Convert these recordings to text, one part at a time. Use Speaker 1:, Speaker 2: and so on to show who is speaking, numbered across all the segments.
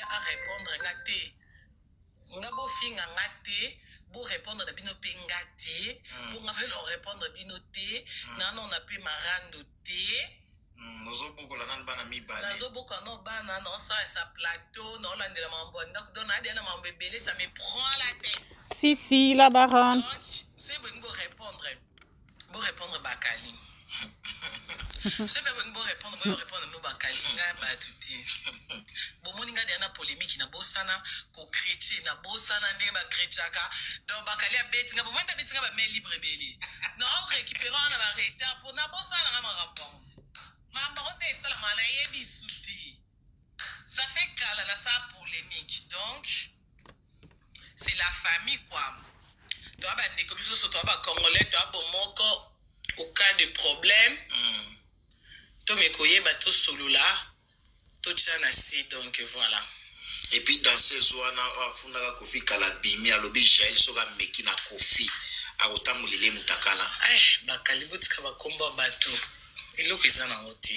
Speaker 1: Y'a a repondre nga te. Nga bo finga nga te. Bo repondre na bino pe nga te. Mm. Bo nga pe na repondre bino te. Mm. Na non na pe marando te. Mm. Ozo boko
Speaker 2: la nan bana mi bale. Nazo boko no bana
Speaker 1: no sa sa plateau no la ndela mambo ndaku dona adi na mambo ebele ça me prend la tête. Si si la
Speaker 3: baronne. Donc c'est bon
Speaker 1: bo repondre. Bo répondre bakali. Soki pe bolingi bo répondre, boyo répondre no bakali ngai bato te. Bomoni ngai deya na polémique na bosana ko creche na bosana ndenge ba crechaka. Donc bakali abeti ngai bomoni abeti ngai ba main libre ebele. Na o récupérer wana ba retard po na bosana ngai makambo yango. Makambo yango nde esalama nayebi su te. Ça fait kala na sa polémique donc c'est la famille quoi toa bandeko biso so toa bacongolais toa bomoko au cas de problème mm. tomeki koyeba tosolola totya na se donc voilà et puis dans
Speaker 2: ces wana afundaka kofi kala bimi alobi jael soki ameki na kofi akotambolele mutakala eh, bakali botika
Speaker 1: bakombo ya bato eloko eza nango te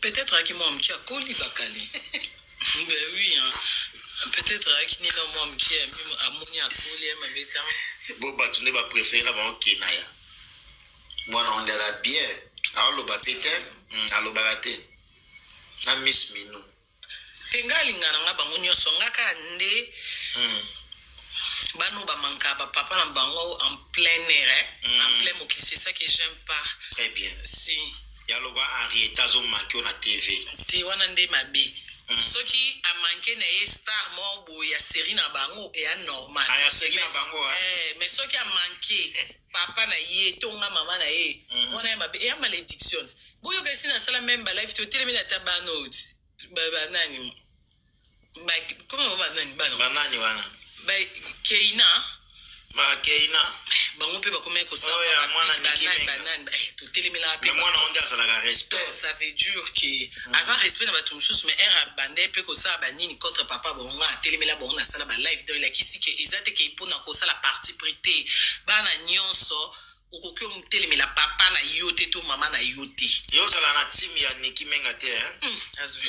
Speaker 2: peut-être
Speaker 1: ayaki mwa moke akoli bakali ben oui hein. peut-être ayaki nini na mwa moke amoni akoli ye mabe ntango bo bato nde
Speaker 2: bapréféré na bango kenaya mwana ondela bien aoloba te te mm, alobaka te na miss minou te nga
Speaker 1: alinga na nga bango nyonso nga kaka nde hmm. bano bamanka bapapa na bango en plein air eh? mm. en plein mokili c'est ça que j'aime pas très bien si yaloba
Speaker 2: henrieta azomanke yo na tv te wana nde mabe
Speaker 1: mm. soki amanke na ye star moko boye ya série na bango eya normal ah, ya série na bango
Speaker 2: eh, eh mais soki
Speaker 1: amanke papa na ye to nga mama na ye Mhm. wana ya mabe eya maledictions boyoka esi nasala meme balife totelemi na ta bano ba- ba- nani Ba- koma ba- ba- nani bano banani wana
Speaker 2: Ba-
Speaker 1: keina
Speaker 2: bakeina bango mpe bakomaki
Speaker 1: kosala Oyo ya mwana Niki
Speaker 2: Menga.
Speaker 1: totelemela mpe na mwana wange azalaka
Speaker 2: respect ça veut dire que
Speaker 1: aza respect na bato mosusu mais ere abandai mpe kosala banini contre papa bango nga atelemela bango nasala balive donc elakisi ke eza te ke mpona kosala parti pris te bana nyonso okoki otelemela papa na yo te to mama na yo te yo ozala na time
Speaker 2: ya niki menga te eh? Hmm, azwi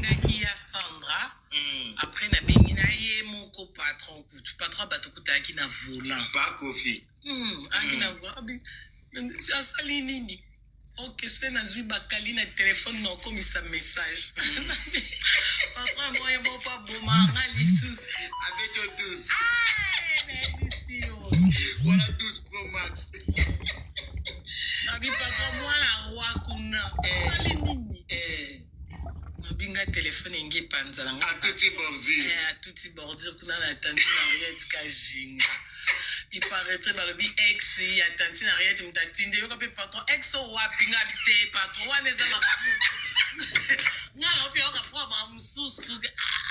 Speaker 1: naki ya sandra mm. après nabengi na ye moko patron kutu patron ya bato kutalaki na volant bakofi
Speaker 2: mm. aki na
Speaker 1: volant asali nini ok soki nazwi bakali na telefone na okomisa message patron moye moko aboma nga lisusu abeto 12 wana
Speaker 2: 12 pro max
Speaker 1: Mabi papa mwana wa kuna. Eh. Sali nini? Eh. Mabi nga telefone enge panza na nga. Atuti bordure.
Speaker 2: Eh, atuti
Speaker 1: bordure kuna na tante Mariette Kajinga. Il paraîtrait balobi ex ya tante Mariette mutatinde yoka pe patron ex o wapi nga bite patron wana eza makamu. Nga na opi yoka problème mususu. Ah.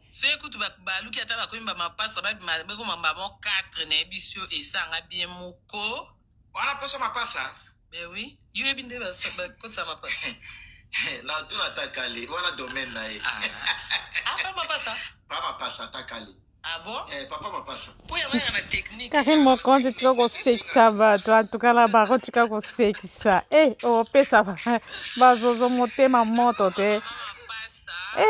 Speaker 1: soki kutu baluki ata bakomi bamapasa babima bekoma mbamo 4 nayebisi yo esanga bie moko wana poso
Speaker 2: mapasa ben oui
Speaker 1: yo yebi nde bakotisa mapasa natuna
Speaker 2: ata kale wana domaine na ye ah, ah. apa
Speaker 1: mapasa pa mapasa ata
Speaker 2: kale
Speaker 1: Ah
Speaker 2: eh,
Speaker 1: kari mokonzi tika
Speaker 3: kosekisa bato atukala bango tika kosekisa e eh, opesa bazozo motema moto te e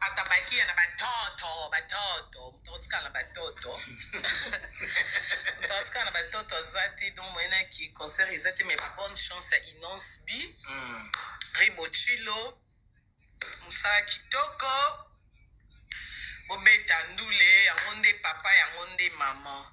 Speaker 1: atabakia na batoto batoto moto akotikala na batoto moto akotikala na batoto aza te donc moyenaki concert eza te mais babonne chance ya inonce b hmm. ribochilo mosala kitoko bobeta ndule yango nde papa yango nde mama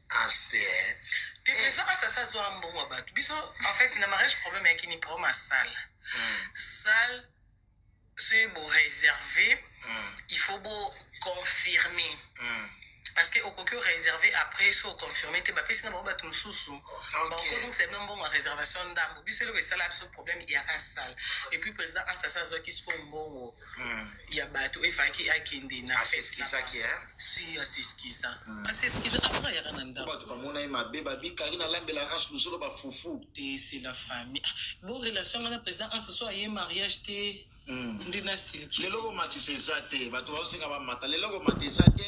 Speaker 2: President
Speaker 1: Masasa azwa mbongo ya bato. Biso en fait na mariage problème ya kini problème ya salle. Hmm. Salle soki bo réserver hmm. il faut bo confirmer. Hmm. Parce que okoki réserver après so confirmer te bapesi na bango bato mosusu bakozongisa bino mbongo ya réservation ndambo biso eloko esala biso problème eyaka salle et puis président ansasa azwaki siko mbongo mm. ya bato efaki akende na asesikizaki eh? si asesikiza hmm. asesikiza apres ayaka na ndako bato bamona ye mabe
Speaker 2: babikaki na lambela anse luzolo bafufu te se la famille
Speaker 1: ah, bo relation nga na président anse so aye mariage te hmm. nde na silki lelo komatisa eza
Speaker 2: te bato baosenga bamata lelo komata eza te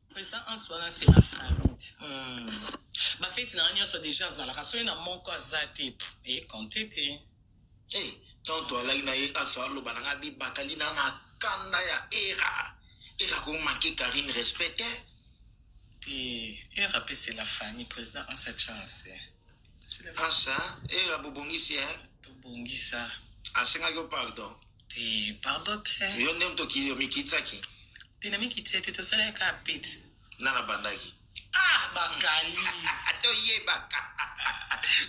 Speaker 2: président anse
Speaker 1: wana se la famille hmm. bafeti na nga nyonso deja azalaka soki na moko aza te ekonte te Hey,
Speaker 2: tant toalaki na ye azo aloba na nga bibakali na na kanda ya era era ko manquer Karine respect te eh,
Speaker 1: era pe c'est la famille président en sa chance
Speaker 2: ansa era bobongisi eh tobongisa
Speaker 1: asengaki yo
Speaker 2: pardon te pardon
Speaker 1: te yo nde moto
Speaker 2: mikitsaki te na mikitsi
Speaker 1: te tosalaki kaka pete nga na bandaki
Speaker 2: ah bakali
Speaker 1: toyebaka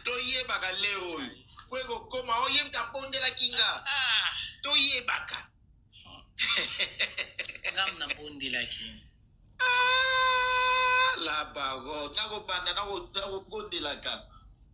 Speaker 2: toyebaka leo oyo po ekokoma oye mta abondelaki nga ah. toyebaka
Speaker 1: nga mna bondelaki ah,
Speaker 2: la bago nakobanda nakobondelaka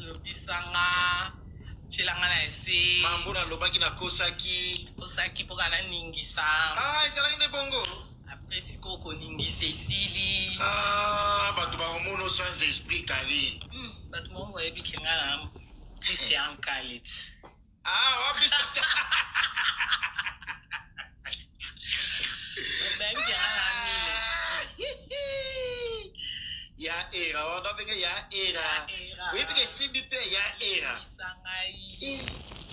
Speaker 2: lobisa nga
Speaker 1: tyela nga na ese mambo nalobaki
Speaker 2: nakosaki kosaki mpo kana
Speaker 1: ningisa ah ezalaki nde
Speaker 2: bongo apres sikoyo
Speaker 1: koningisa esili ah
Speaker 2: bato bakomono sans esprit kari Hmm, bato moko
Speaker 1: bayebi kenga na plus ya nkalit Ah,
Speaker 2: wapi tata?
Speaker 1: Obengi ya Amile.
Speaker 2: ya era wana ndenge ya era Era. oyebi ke esimbi mpe ya era Lisa ngai.
Speaker 1: Eh,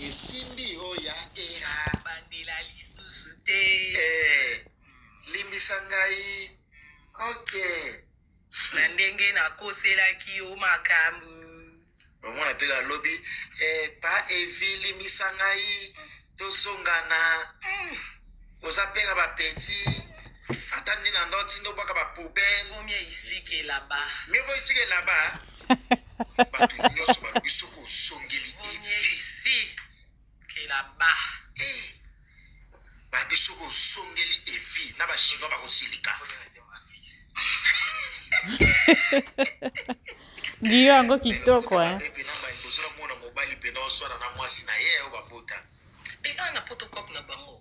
Speaker 1: esimbi
Speaker 2: o ya era Bandela
Speaker 1: lisusu te. Eh, limbisa
Speaker 2: ngai ok Na
Speaker 1: ndenge nakoselaki yo makambu. Omona
Speaker 2: pe alobi eh pa Evi limbisa ngai tozonga na oza pe na ba petit ata nde na ndo tindo bwaka ba poubelle Vaut mieux ici que
Speaker 1: là-bas. mieux vaut ici que là-bas
Speaker 2: bato nyonso balobi soki ozongeli Vaut mieux evi ici.
Speaker 1: kela ba eh
Speaker 2: ba biso ko zongeli evi na ba chinois ba ko silika
Speaker 3: Guillaume yango kitoko eh. Epe na mbaye bozora
Speaker 2: mwana mobali pe na oswana na mwasi na ye oyo babota. Pe na na
Speaker 1: protocop na bango.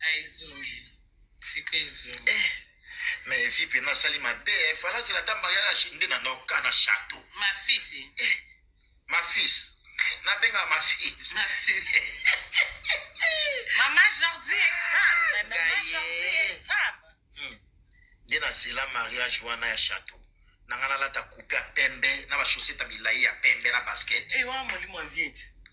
Speaker 2: Ah,
Speaker 1: ezongi. Sika ezongi. Eh. Mais
Speaker 2: vie pena sali mabe, eh. Fala zela ta mariage nde na noka na château. Ma fils.
Speaker 1: Eh. Ma
Speaker 2: fils. Na benga ma fils. Ma fils.
Speaker 1: Maman Jordi est sable. Maman Jordi est sable. Hmm. Nde na
Speaker 2: zela mariage wana ya château. nanga nalata kupe ya pembe na bashosete ya milai ya pembe na basket ewa eh, molimo ya viete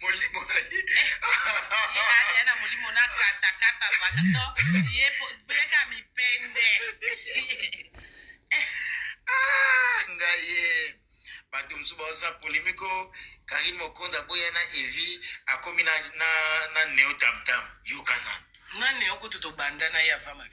Speaker 1: molimo
Speaker 2: na ye ye
Speaker 1: alia na molimo na katakata baka to ye beka mipende
Speaker 2: ah, ngaye bato mosusu baoza polemiko karine mokonzi aboya na evi akomi na, na, na neo tamtam yokanana na neo kutu
Speaker 1: tobanda na ye avama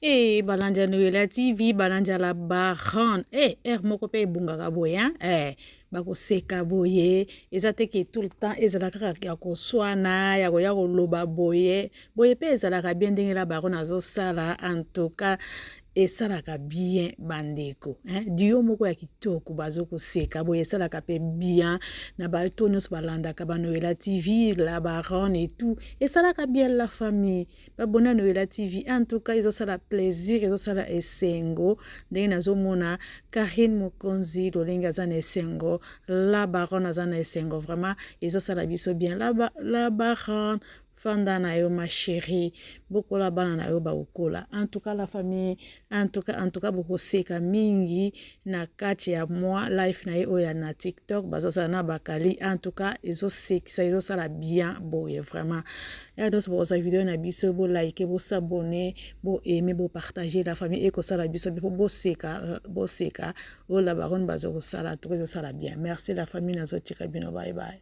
Speaker 1: Hey, eh,
Speaker 3: balanja noyela tv balanja la baran hey, eh, heure moko mpe ebungaka boye hein? hey, eh, bakoseka boye eza te ke tout le temps ezala kaka ya koswana ya koya koloba boye boye mpe ezalaka bien ndenge la baron azosala en tout cas esalaka bien bandeko hein? dio moko ya kitoko bazokoseka boye esalaka mpe bien na bato nyonso balandaka banoyela tv la baron et tout esalaka bien la famille babona noyela tv en tout cas ezosala plaisir ezosala esengo ndenge nazomona karine mokonzi lolenge aza na esengo la baronne aza na esengo vraiment ezosala biso bien la, ba, la baronne fanda na yo ma chérie bokola bana na yo bakokola en tout cas la famille en tout cas en tout cas bokoseka mingi na kati ya mwa life na ye oyo ya na tiktok bazosala na bakali en tout cas ezosekisa ezosala bien boye vraiment ya nyonso bokozwa video na biso bolike bosabone boaime bopartage la famille ekosala biso mpo boseka boseka oyo la baronne bazokosala to ezosala bien merci la famille nazotika bino bye bye